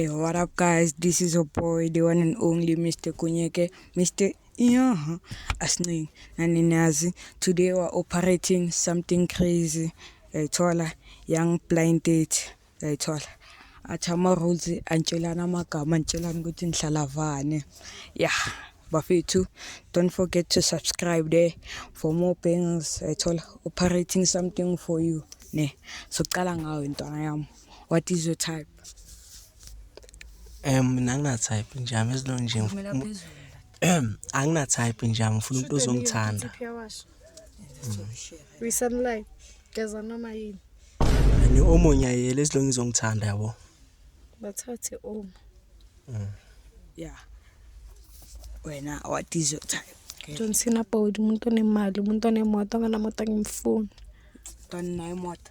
Hey, what up guys? This is your boy, the one and only Mr. Kunyeke, Mr. Yeah, Asni Naninazi. Today we're operating something crazy. Hey, Tola, young blind date. Hey, Tola. athi ama-rules antshelana amagama antshelana ukuthi nihlala vane ya bafethu don't forget to subscribe there for more bangs ethola operating something for you ne soqala ngawe ntwana yami What is your type? Um mina ngina type nje ami as long nje Ngimela ngif- phezulu. Ehem, angina type nje ami ngifuna umuntu ozongithanda. Wisanlay. Geza noma yini. Ni omunye ayele as long izongithanda yabo. Bathathe uma. Yeah. Wena what is your type? Okay. John Cena Bowd umuntu onemali, umuntu onemoto, anganamoto angimfuni. Tani nayo moto.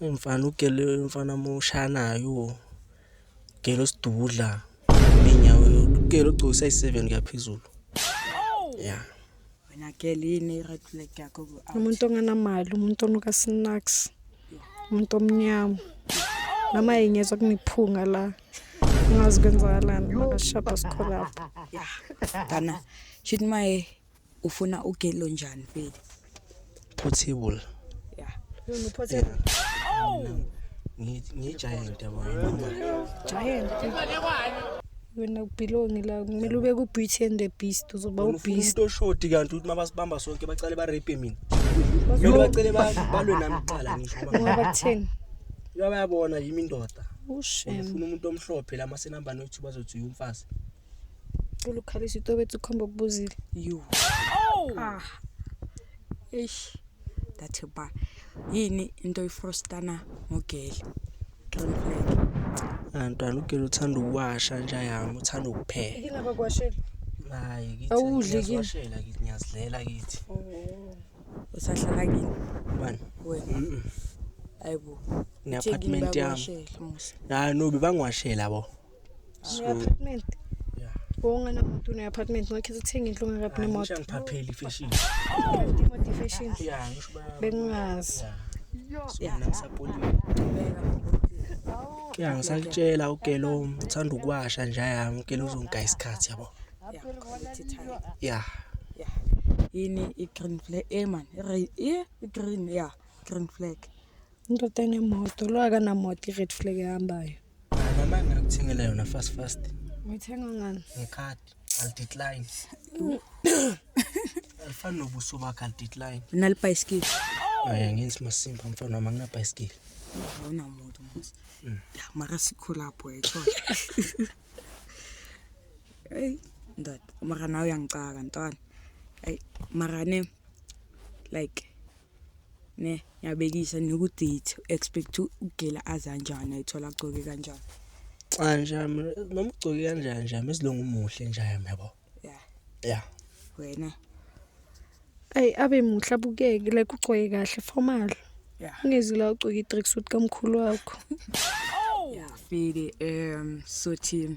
Eyi mfana ugele mfana moshanayo ugele usidudla inyawo ugele ugcoke size 7 kuyaphezulu yeah wena girl yini i-red flag yakho umuntu onganamali umuntu onuka snacks umuntu omnyama noma yengezwa kuniphunga la ungazi kwenzakalani makashada sikholapho yeah dana shit maye Ufuna ugelo njani vele? Portable. Yeah. Yona portable. Oh! Ngiyigiant yabo. Giant. Wena ubelongi la kumele ube ku Beauty and the Beast uzoba u Beast. Umuntu oshoti kanti uthi mabasibamba sonke bacale ba rape mina. Mina bacale ba balwe nami kuqala ngisho. Ngoba kutheni? Yaba yabona yimi indoda. Ushem. Ufuna umuntu omhlophe la masenambani othi bazothi uyumfazi. ulukhalisa itobetsi ukhomba kubuzile you oh ah eish that ba yini into ifrostana ngogeli don't flag antwana ugeli uthanda ukuwasha nje yami uthanda ukupheka yini abakwashela hayi kithi awudli kithi ngiyazidlela kithi oh. usahlala kini bani wena ayibo ne apartment yami hayi no bebangiwashela bo So, apartment. Yeah. Wonga na mtu na apartment ngakhe sithenga indlu ngakabi ah, nemoto. Ngishangiphapheli fashion. Imoto fashion. Yeah, ngisho ba. Bengazi. Yeah. So mina ngisapoliwe. Yeah, ngisakutshela ukelo uthanda ukuwasha nje yami ukelo uzongigaya isikhathi yabo. Yeah. Yeah. Yini i green flag? Eh man, i green yeah, green flag. Indoda enemoto lo akanamoto i-red flag ehambayo. Mama ngakuthengela yona fast fast. Ngithenga ngani? Ngecard. I'll decline. Alifani nobuso bakhe I'll decline. Nalibhayisikili. Hayi ngenzi masimba mfana wami anginabhayisikili. Awuna muntu mos. Mm. Ya mara sikhulapho yetho. Hey ndoda mara nawe uyangicaka ntwana. Hey mara ne like ne ngiyabekisa nokuthi to expect ugela azanjani ayithola agcoke kanjani cha nje noma ugcoke kanjani nje mesilungu umuhle nje yabo yeah yeah wena ay abe muhle abukeke like ugcoke kahle formal yeah ungezila ugcoke i-track suit kamkhulu wakho oh yeah fili um so team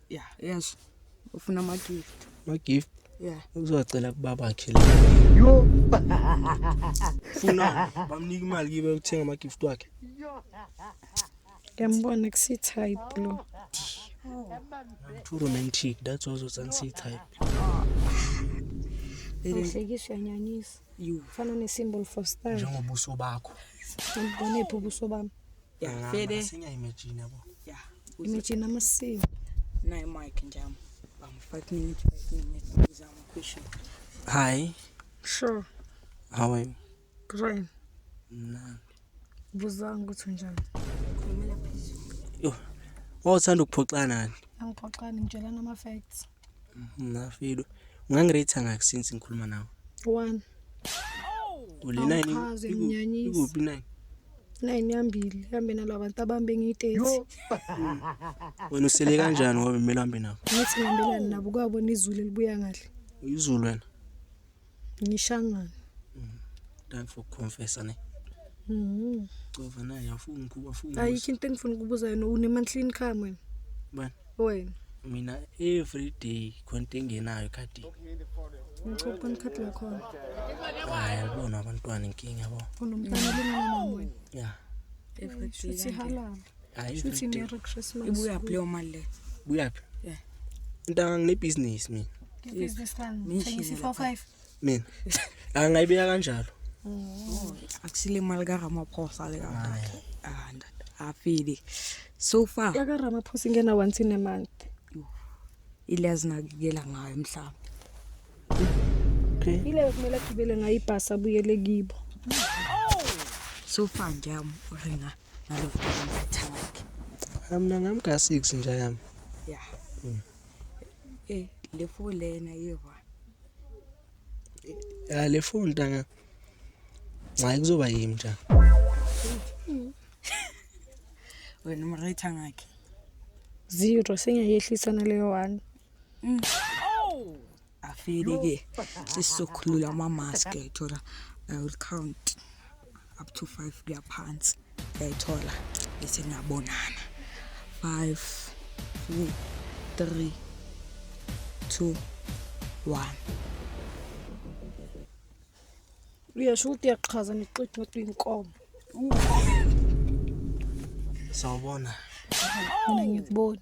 ya yes ufuna ama gift ama gift ya uzocela kubabakhe la yo funa bamnika imali kibe uthenga ama gift wakhe ngiyambona kusi type lo too romantic that's also sansi type Uhlekiswa nyanyisa. Ufana ne symbol for star. Njengobuso bakho. Ngibonephi ubuso bami? ya fede asinya imagine yabo ya imagine amasiko naye mic njalo bam 5 minutes 5 minutes uza ama question hi sure how are you great na buzanga ukuthi unjani khulumela phezulu yo wawuthanda ukuphoxana nani angiphoxani ngitshelana ama facts Nafilo. Ungangiretha ngakho since ngikhuluma nawe. 1. Ulena yini? Awuchaze, Iku- nginyanyisa. Ikuphi nine? Nine yambili hambe nalaba bantu abambe ngiyitezi. Wena usele kanjani ngoba kumele uhambe nabo? Ngithi ngihambelani nabo kwabona izulu elibuya kahle. Uyizulu wena. Ngishangane. Mm. Time for confessor ne. Mhm. Cova naye afuna ukuba afuna. Ayikho into engifuna ukubuza yona une monthly income wena. Bani? Wena. Mina every day khonto engenayo khadi. Ngicopha ikhadi lakho. Hayi yabona abantwana inkinga yabo. Unomntana lengane wena. Yeah. Every day. Sihalala. Hayi Shuthi Merry Merry Christmas. ibuya kuleyo mali le buyaphi? Yeah. Ntanga ngine business mina. Business man. Mention Thengisa it, 45. Mina. La ngayibeka kanjalo. akusile mali karamaphosa le kakhe ah ndoda afili so far Yaka Ramaphosa ingena once in a month. ile azinakekela ngayo mhlawumbe Okay. Ile kumele agibele ngayo ibhasi abuyele kibo. so far nje amuringa Mina ngami ka 6 nje yami. Yeah. Mm. Eh le phone lena yeva. Ya le phone ntanga. Hayi kuzoba yimi nje. Wena umrayitha ngakhe. Zero sengiyayehlisana leyo 1. Mm. afike ke sesizokhulula ama-mask uyayithola i will count up to five kuya phansi uyayithola bese niyabonana five four three two one uyasho ukuthi uyachaza nixitha ukuthi uyinkomo sawubona mina ngikubona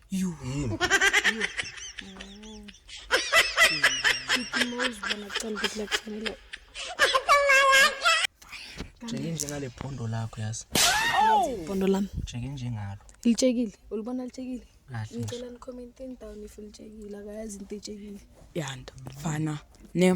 You. Yini? Chicken Mouse bona kucela ukuthi lakufanele. Jeke njengale phondo lakho yazi. Bondo lami. Jeke njengalo. Litshekile. Ulibona litshekile? Kahle. Ngicela ni comment down if litshekile akayazi into etshekile. Yanda. Fana. Ne.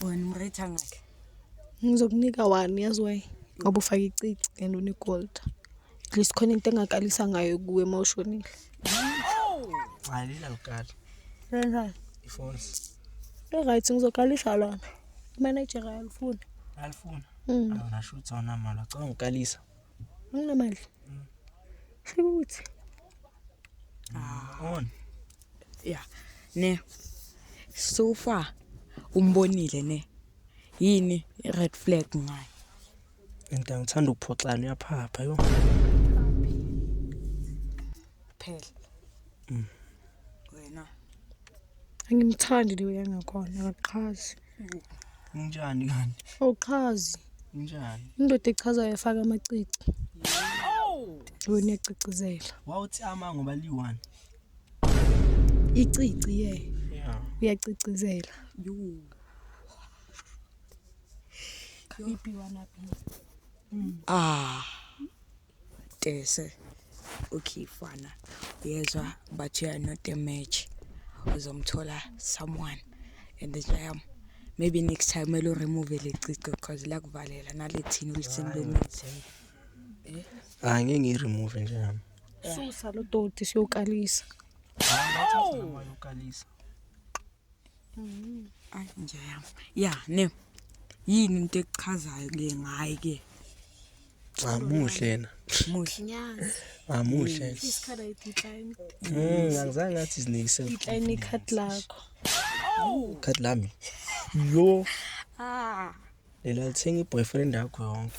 wena umrate angakhe ngizokunika wani yazi why ngoba ufake icici and unegold at least khona into engakalisa ngayo kuwe uma ushonile ngalila ngikala kanjani ifoni right ngizokalisa lona manager alifuni alifuna mm. awunashuthi awunamali acabanga ukalisa Unamandla. Shukuthi. Ah. On. Yeah. Ne. So far umbonile ne. Yini red flag ngayo? Into ngithanda ukuphoxana uyaphapha yo. Phela. Mm. Wena. Angimthandi leyo yangakhona akaqhazi. Unjani kanti? Awuchazi. Unjani? Indoda echazayo efaka amacici. Wena ecicizela. Wawuthi ama ngoba liyi-one. Icici ye. Yeah. Uyacicizela. Yuu. Ipi wanaphi? Ah. Tese okay fana uyezwa but you are not a match uzomthola someone and the jam um, maybe next time elo remove le cico because lakuvalela nalethini ulisini lomuthi eh? hayi ngeke ngiyiremove nje nami susa lo doti siyokalisa hayi ngathi ukalisa Ay nje yami. Ya, ne. Yini into ekuchazayo ke ngayi ke? Cha muhle yena. Muhle. Nyazi. Ah muhle. Isikhala idecline. Mm, angizange ngathi izinikise. Decline icut lakho. Oh! Cut lami. Yo. Ah. Lela lithenga iboyfriend yakho yonke.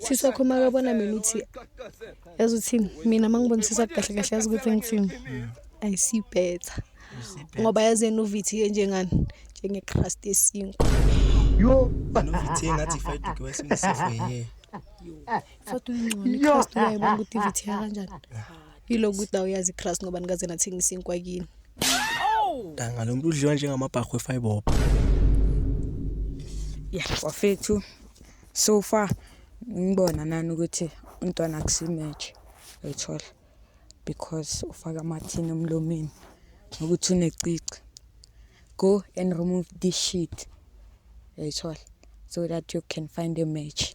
sisi wakho makabona mina uthi yazi uthini mina mangibonisisa kahle kahle yazi ukuthi ngithini i see better ngoba yazi yena uvithiye njengani njengecrust yesinkwa yo novithiye ngathi ifayiduke wayesemsifo ye fatu ingcono icrust uyayibona ukuthi ivithiya kanjani Yilo ukuthi nawe uyazi igrass ngoba nikaze nathengisa inkwa kini. Danga lo muntu udliwa njengamabhakho efiber. ya wafethu so far ngibona nani ukuthi umntwana akusimatch uyithola because ufaka amathini emlomeni nokuthi unecici go and remove this shit uyithola so that you can find a match